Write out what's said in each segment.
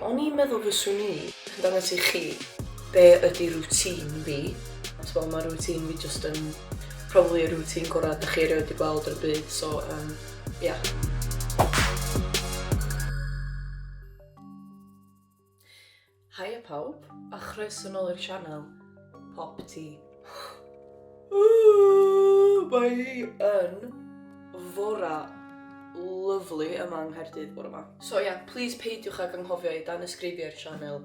O'n i'n meddwl fyswn i yn dangos i chi be ydy routine fi, achos fel mae routine fi just yn probably y routine gorau da chi erioed wedi gweld ar y byd, so um, yeah. Hiya pawb, a chroeso nôl i'r sianel, Pop Tea. Mae hi yn fora lyflu yma yng Nghaerdydd bore yma. So ia, please peidiwch ag anghofio i danysgrifio i'r sianel,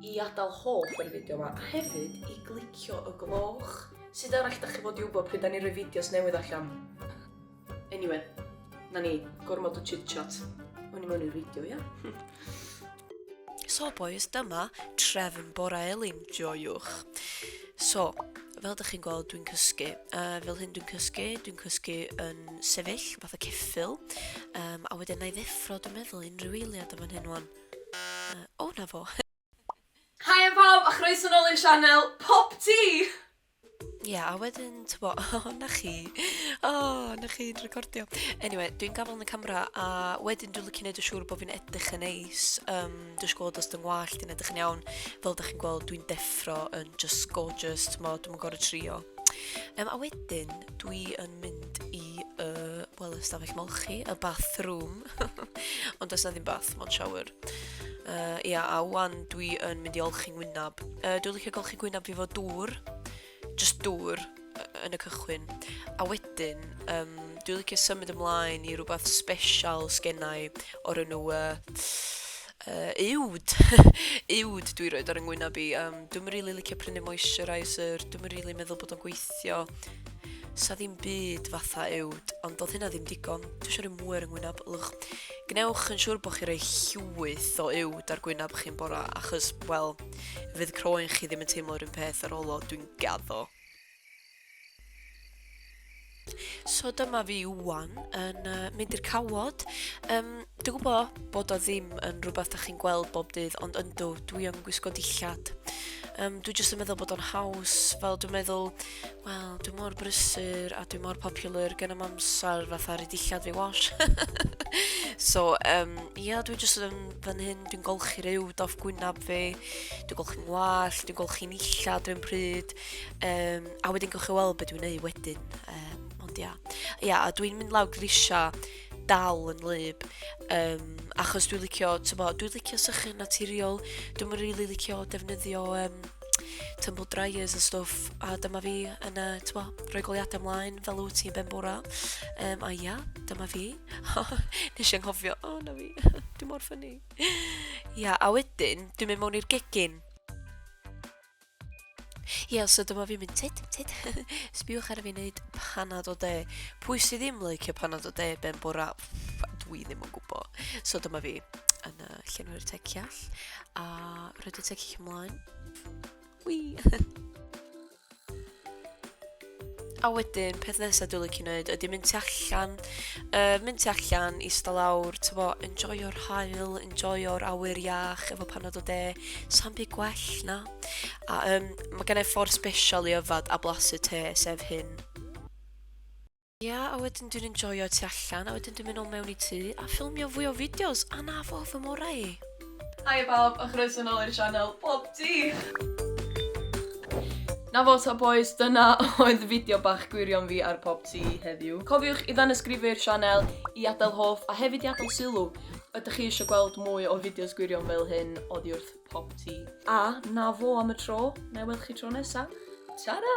i adael hoff ar y fideo yma, a hefyd i glicio y gloch. Sut arall dach chi fod i wybod pryd da ni'n rhoi fideos newydd allan? Anyway, na ni, gormod o chit-chat. O'n i mewn i reidio, ia? so, boys, dyma trefn bora elin, joiwch. So, fel ydych chi'n gweld, dwi'n cysgu. Uh, fel hyn dwi'n cysgu, dwi'n cysgu yn sefyll, fath o ceffil. Um, a wedyn na i ddeffro, dwi'n meddwl, unrhyw eiliad am fan hyn wan. Uh, o, na fo. Haia pawb a chroeso nôl i'n sianel Pop Tea! Ie, a wedyn, tybo, o, na chi. O, na chi'n recordio. Anyway, dwi'n gafel yn y camera a wedyn dwi'n lycio neud y siŵr bod fi'n edrych yn neis. Um, dwi'n gweld os dwi'n ngwallt i'n edrych yn iawn. Fel ydych chi'n gweld, dwi'n deffro yn just gorgeous, tybo, dwi'n gorau trio. Um, a wedyn, dwi yn mynd i, uh, wel, ystafell molchi, y bathroom. Ond does na ddim bath, mae'n siawyr. Uh, ia, a wan dwi yn mynd i olchi ngwynab. Uh, dwi'n licio golchi gwynab fi fo dŵr, just dŵr uh, yn y cychwyn. A wedyn, um, dwi'n licio symud ymlaen i rhywbeth special sgennau o'r enw uh, Yy uwd! uwd dwi roid ar yng ngwynab i. Yym, dwi'm yn rili licio prynu moisturiser, dwi'm yn rili meddwl bod o'n gweithio. Sa ddim byd fatha uwd, ond doedd hynna ddim digon. Dwi eisiau rhoi mwy ar yng ngwynab. Lwch, gwnewch yn siŵr bod chi rhoi llwyth o uwd ar gwynab chi'n bora, achos, wel, fydd croen chi ddim yn teimlo'r un peth ar ôl o, dwi'n gaddo. So dyma fi wan yn uh, mynd i'r cawod. Um, dwi'n gwybod bod o ddim yn rhywbeth da chi'n gweld bob dydd, ond yndw, dwi yn gwisgo dillad. Um, dwi jyst yn meddwl bod o'n haws, fel dwi'n meddwl, wel, dwi mor brysur a dwi mor popular gen am amser fatha rhi dillad fi wash. so, um, ia, dwi jyst yn fan hyn, dwi'n golchi rhyw doff gwynaf fi, dwi'n golchi'n wall, dwi'n golchi'n illa, dwi'n pryd, Um, a wedyn gwych chi weld beth dwi'n neud wedyn. Um, ond ia. Ia, a dwi'n mynd lawr grisio dal yn lyb. Um, achos dwi'n licio, tybo, dwi'n licio sychu naturiol. Dwi'n mynd really licio defnyddio um, tumble dryers a stwff. A dyma fi yn, uh, tybo, rhoi goliadau ymlaen fel wyt ti'n ben bora. Um, a ia, dyma fi. Nes i'n hofio, o oh, na fi, dwi'n mor ffynnu. ia, a wedyn, dwi'n mynd mewn i'r gegin. Ie, so dyma fi'n mynd tit, tit. Sbiwch ar fi wneud panad o de. Pwy sydd ddim leicio panad o de ben bora? Dwi ddim yn gwybod. So dyma fi yn uh, llenwi'r teciall a roed y tecill ymlaen. Wii! A wedyn, peth nesaf dwi'n licio wneud ydy mynd tu allan, uh, mynd tu allan, i sta lawr, ti'n fo, enjoyo'r hael, enjoyo'r awyr iach efo panad o de, sa'n byd gwell na. A um, mae gen i ffordd special i yfad a blasu te, sef hyn. Ia, yeah, a wedyn dwi'n enjoyo tu allan, a wedyn dwi'n mynd o mewn i tŷ a ffilmio fwy o fideos, a na fo fy morau i. Haia bawb a chroeso nôl i'r sianel Pob Tîf! Na fo ta bois, dyna oedd fideo bach gwirion fi ar Pob Tî heddiw. Cofiwch i ddanyysgrifu'r sianel, i adael hoff a hefyd i adael sylw. Ydych chi eisiau gweld mwy o fideos gwirion fel hyn oddi wrth Pob Tî? A na fo am y tro, na i weld chi tro nesa. Tara!